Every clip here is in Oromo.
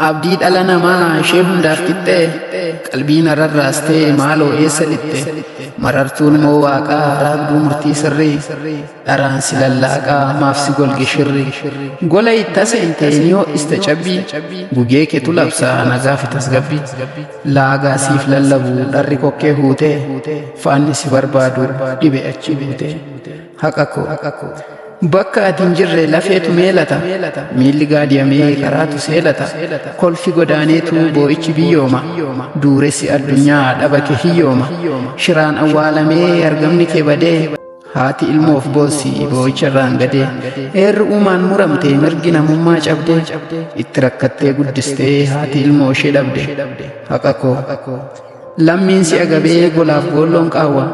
Abdii dhala namaa ishee hundaaf qixxee qalbii nararraastee maaloo eessa lixxe marartuun moo waaqaa raagduu murtii sirrii dharaan si lallaaqaa maaf si golge shirri gola itta seente niyoo ista cabbii gugee ketu labsaa nagaa fi tasgabbii Laagaa siif lallabu dharri kokkee huutee faanni si barbaadu dhibe achi buutee haqa koo bakka ati hin jirre lafeetu meelata miilli gaadiyamee karaatu seelata kolfi godaaneetu boo'ichi biyyooma duuressi addunyaa dhabake hiyyooma shiraan awwaalamee argamni kee badee Haati ilmoof boossi boo'icha irraan gadee eerri uumaan muramtee mirgi namummaa cabdee itti rakkattee guddistee haati ilmoo ishee dhabde haqa koo lammiin si agabee golaaf goolloon qaawwa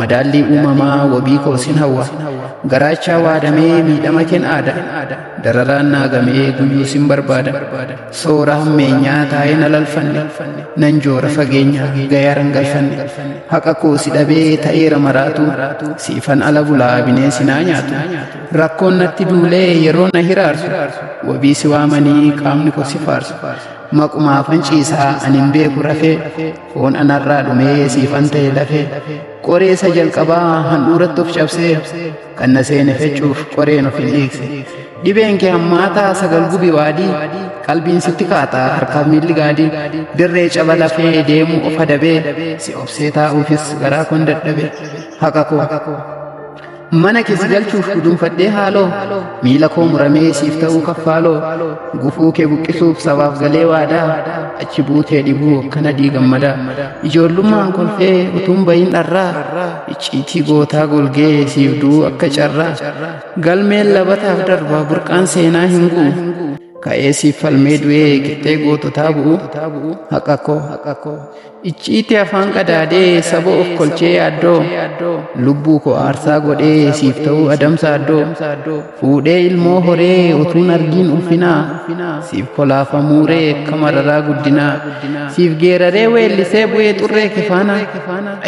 madaallii uumamaa wabii koo sin hawwa garaachaa waadamee miidhama keen aada dararaan naagamee guyyuu sin barbaada Soora hammeenyaa taa'ee na lalfanne nan joora fageenya gayaaran galfanne haqa koo si dhabee ta'eera maraatu siifan ala bulaa bineensi naa nyaatu rakkoon natti duulee yeroo na hiraarsu wabii si waamanii qaamni koo si faarsu maqumaa fanciisaa ani hin beeku rafee foon anarraa dhumee siifan ta'e lafee qoreessa jalqabaa handhuuratti of cabsee kan na seene fechuuf qoreen of hin dhiigse dhibeen kee hammaataa sagal gubi waadii qalbiin sitti kaataa harkaaf miilli gaadii dirree caba lafee deemu of adabee si obsee taa'uufis garaa koon dadhabe haqa koo mana kee si galchuuf gudunfadhee haaloo miila koo muramee siif ta'uu kaffaaloo gufuu kee buqqisuuf sabaaf galee waadaa achi buutee dhibuu akkana diigammadaa ijoollummaan kolfee utuun bayin dharraa Icciitii gootaa golgee siif du'uu akka carraa Galmeen labataaf darbaa burqaan seenaa hin gu'u Ka'ee siif falmee du'ee qixxee goototaa bu'u Haqa koo Icciitii afaan qadaadee saba of kolchee yaaddoo Lubbuu koo aarsaa godhee siif ta'uu adamsa addoo Fuudhee ilmoo horee utuun argiin ulfinaa Siif kolaafa muuree akka mararaa guddinaa Siif geeraree weellisee bu'ee xurree kifaana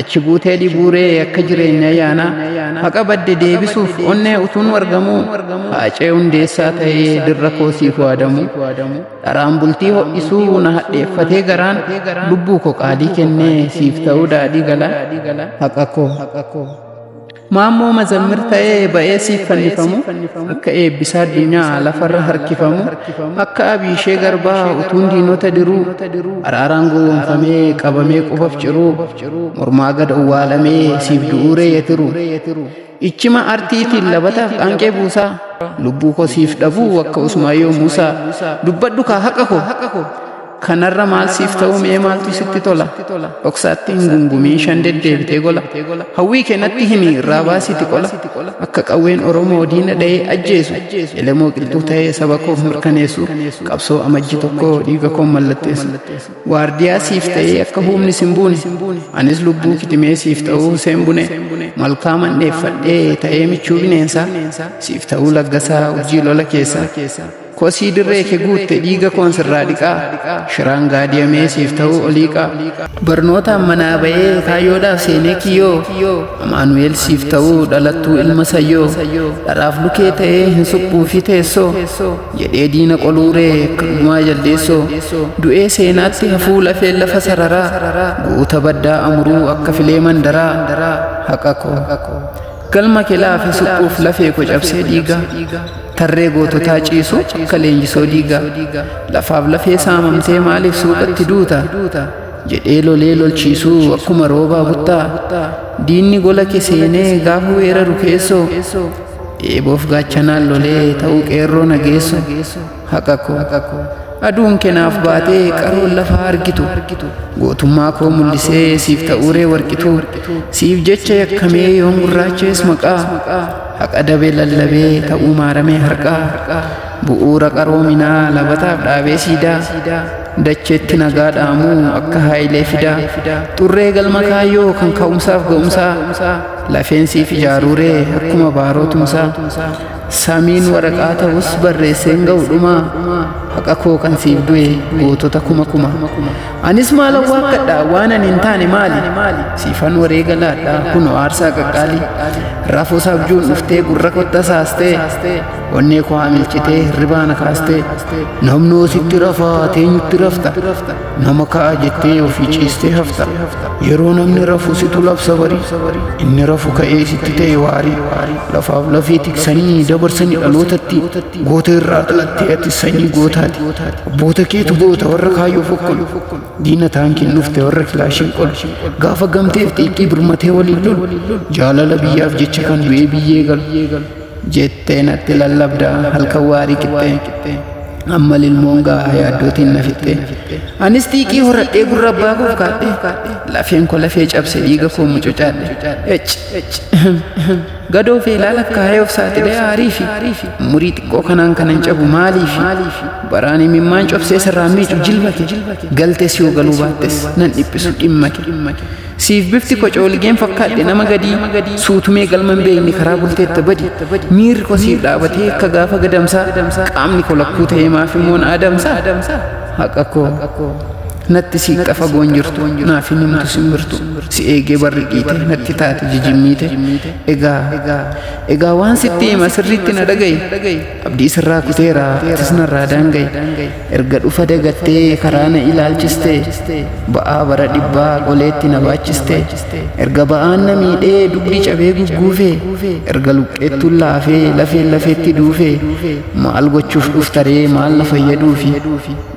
Achi buutee dhibuuree akka jireenya yaana Haqa badde deebisuuf onnee utuun wargamuu Haacee hundeessaa ta'ee dirra koo siif waadamu Dharaan bultii ho'isuu na hadheeffatee garaan Lubbuu koo qaalii kennee siif ta'uu daadhii gala Haqa koo Maammoo mazammir ta'ee ba'ee siif fannifamu akka eebbisaa addunyaa lafarra harkifamu akka abiishee garbaa utuun diinota diruu araaraan gowwoomfamee qabamee qubaf ciruu mormaa gad owwaalamee siif du'uuree yetiru ichima artiitiin labataaf qaanqee buusaa lubbuu koo siif dhabuu akka usmaayoo muusaa dubbadhu kaa haqa koo Kanarra maal siif ta'uu mee maaltu sitti tola? Dhoksaatti hin gungumiin shan deddeebitee gola. Hawwii kee natti himi irraa baasiiti qola. Akka qawween Oromoo diina dha'ee ajjeesu. Elemoo qilxuu ta'ee saba koof mirkaneessu. Qabsoo amajji tokko dhiiga koon mallatteessu. Waardiyaa siif ta'ee akka humni sin buune. Anis lubbuu kitimee siif ta'uu Huseen Bune. Malkaa mandheeffadhee ta'ee michuu bineensaa. Siif ta'uu laggasaa urjii lola keessaa. Kosii dirree kee guutte dhiiga koon sirraa dhiqaa Shiraan gaadiyamee siif ta'uu oliiqaa Barnootaan manaa ba'ee kaayyoodhaaf seenee kiyyoo Amaanu'eel siif ta'uu dhalattuu ilma sayyoo Dharaaf lukee ta'ee hin suphuu fi teessoo Jedhee diina qoluuree akka gumaa jaldeessoo Du'ee seenaatti hafuu lafee lafa sararaa Guuta baddaa amuruu akka filee mandaraa Haqa koo Galma kelaa fi suphuuf lafee ko cabsee dhiiga Tarree goototaa ciisu akka leenjisoo diiga Lafaaf lafee saamamtee maaliif suuqatti duuta Jedhee lolee lolchiisuu akkuma roobaa buttaa Diinni gola ke seenee gaafa weeraru keessoo Eeboof gaachanaan lolee ta'uu qeerroo nageessoo haqa koo aduun kenaaf baatee qaroon lafaa argitu gootummaa koo mul'isee siif ta'uuree warqitu siif jecha yakkamee yoon gurraachees maqaa haqa dabee lallabee ta'uu maaramee harqaa bu'uura qaroominaa labataaf dhaabee siidaa dacheetti nagaa dhaamuu akka haayilee fidaa xurree galma kaayyoo kan ka'umsaaf ga'umsaa lafeen siif ijaaruuree akkuma baarootumsaa Samiin waraqaa ta'us barreesseen ga'u dhumaa haqa koo kan siif du'e gootota kuma kuma anis maal awwaakkadha waan ani hin taane maali siifan wareega laadha kunoo aarsaa qaqqaalii rafuus abjuun dhuftee gurra kotta saastee onnee koo haamilchitee hirribaana kaastee namnoo sitti rafaa teenyutti rafta Nama ka'a jettee ofii ciistee hafta. Yeroo namni rafu situ labsa barii. Inni rafu ka'ee sitti ta'e waarii. Lafaaf lafee tiksanii dabarsanii dhalootatti. Goota irraa dhalattee ati sanyii gootaati. Abboota keetu goota warra kaayyoo fokkolu. Diina taankiin dhufte warra kilaashiin qolu. Gaafa gamteef xiiqii birmatee waliin lolu. Jaalala biyyaaf jecha kan du'ee biyyee galu. Jettee natti lallabda halkan waarii qixxee. Amma lilmoon gaafa yaaddootiin na fixxee. Anis xiiqii horadhee gurra abbaa koof kaadhe. Lafeen koo lafee cabse dhiiga koo mucucaadhe. Ec. Gadoo fi ilaala kaayee of saaxilee aarii fi umurii xiqqoo kanaan kanan cabu maaliif? Baraan imimmaan cobsee sirraa miicu jilbake. Galtes yoo galuu baattes nan dhiphisu dhimmake. Siif bifti ko coolgeen fakkaadhe nama gadii suutumee galma hin beekne karaa bulteetta badi miirri ko siif dhaabatee akka gaafa gadamsaa qaamni ko lakkuu ta'ee maaf immoo na adamsaa haqa koo natti siiqxa fagoon jirtu naaf hin himtu simbirtu si eegee barri dhiite natti taate jijimmiite egaa egaa waan sitti hima sirriitti na dhaga'i Abdii sirraa kuteera atis narraa daanga'i Erga dhufa dagattee karaa na ilaalchiste Ba'aa bara dhibbaa qoleetti na baachiste Erga ba'aan na miidhee dugdi cabee gugguufe Erga luqqeettuun laafee lafeen lafeetti duufe Maal gochuuf dhuftaree maal na fayyaduufi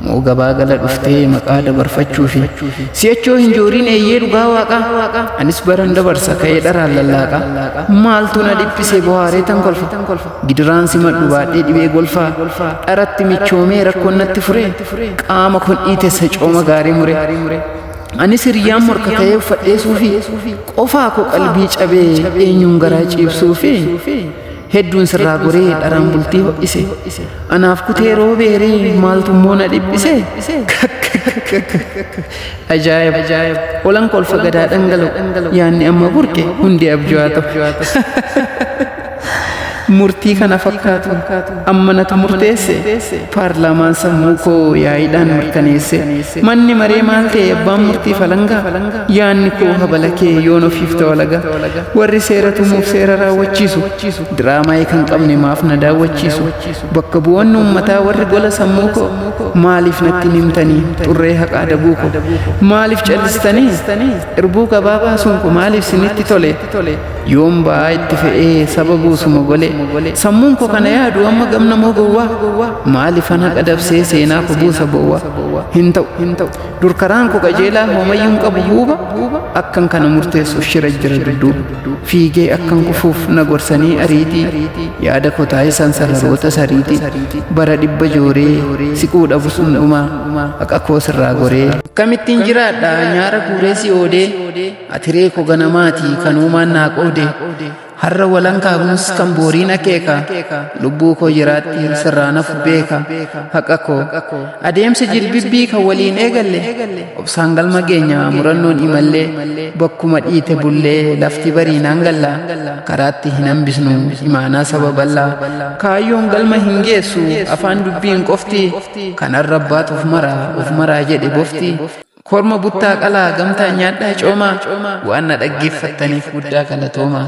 Moo gabaa gala dhuftee maqaa dabarfachuufi Si'achoo hin jooriin eeyyee dhugaa waaqaa Anis baran dabarsa ka'ee dharaan lallaaqa Maaltu na dhiphise bohaaree tan kolfa Gidiraan simadhu baadhee dhibee golfaa dharatti michoomee rakkoon natti fure qaama kun dhiitessa cooma gaarii mure. Anis hiriyyaan morka ta'ee uffadhee suufii qofaa koo qalbii cabee eenyuun garaa ciibsuu fi hedduun sirraa goree dharaan bultii ho'ise. Anaaf kutee roobeeree maaltummoo na dhiphise. Ajaa'ib! Olan kolfa gadaa dhangala'u yaanni amma burqe hundi abjuu haa ta'u. Murtii kana fakkaatu amma natu murteesse paarlaamaan sammuu koo yaa'iidhaan mirkaneesse manni maree maal ta'e abbaan murtii falangaa yaanni koo habala kee yoon ofiif ta'olaga warri seera tumuuf seera raawwachiisu diraamaa kan qabne maaf na daawwachiisu bakka bu'oonni uummataa warri gola sammuu koo maaliif natti himtanii xurree haqaa dabuu koo maaliif callistanii irbuu gabaa baasuun koo maaliif sinitti tole yoon ba'aa itti fe'ee saba buusuma golee sammuun koo kana yaadu amma gamna moo gowwaa maalifan haqa dabsee seenaa ko buusa bowwaa hin ta'u hin ta'u dur karaan ko qajeelaa hoomayyuun qabu huuba akkan kana murteessuuf shira jira dudduuba fiigee akkan kufuuf na gorsanii ariitii yaada ko taasisan sararoota sariitii bara dhibba jooree siquu dhabus hundumaa haqa koo sirraa goree akkamittiin jiraadha nyaara guuree si oodee Ati reeko ganamaatii kan uumaan naa qoode har'a walan kaabuus kan booriin akeeka lubbuu koo jiraatti sirraa nafu beeka haqa koo adeemsa jirbibbii kan waliin eegalle obsaan galma geenya murannoon imallee bakkuma dhiite bullee lafti bariinaan galla karaatti hin hambisnu imaanaa saba bal'aa kaayyoon galma hin geessu afaan dubbiin qofti kanarra baatuuf mara of maraa jedhe bofti Korma buttaa qalaa gamtaan nyaadhaa coomaa waan na dhaggeeffattaniif guddaa galatoomaa.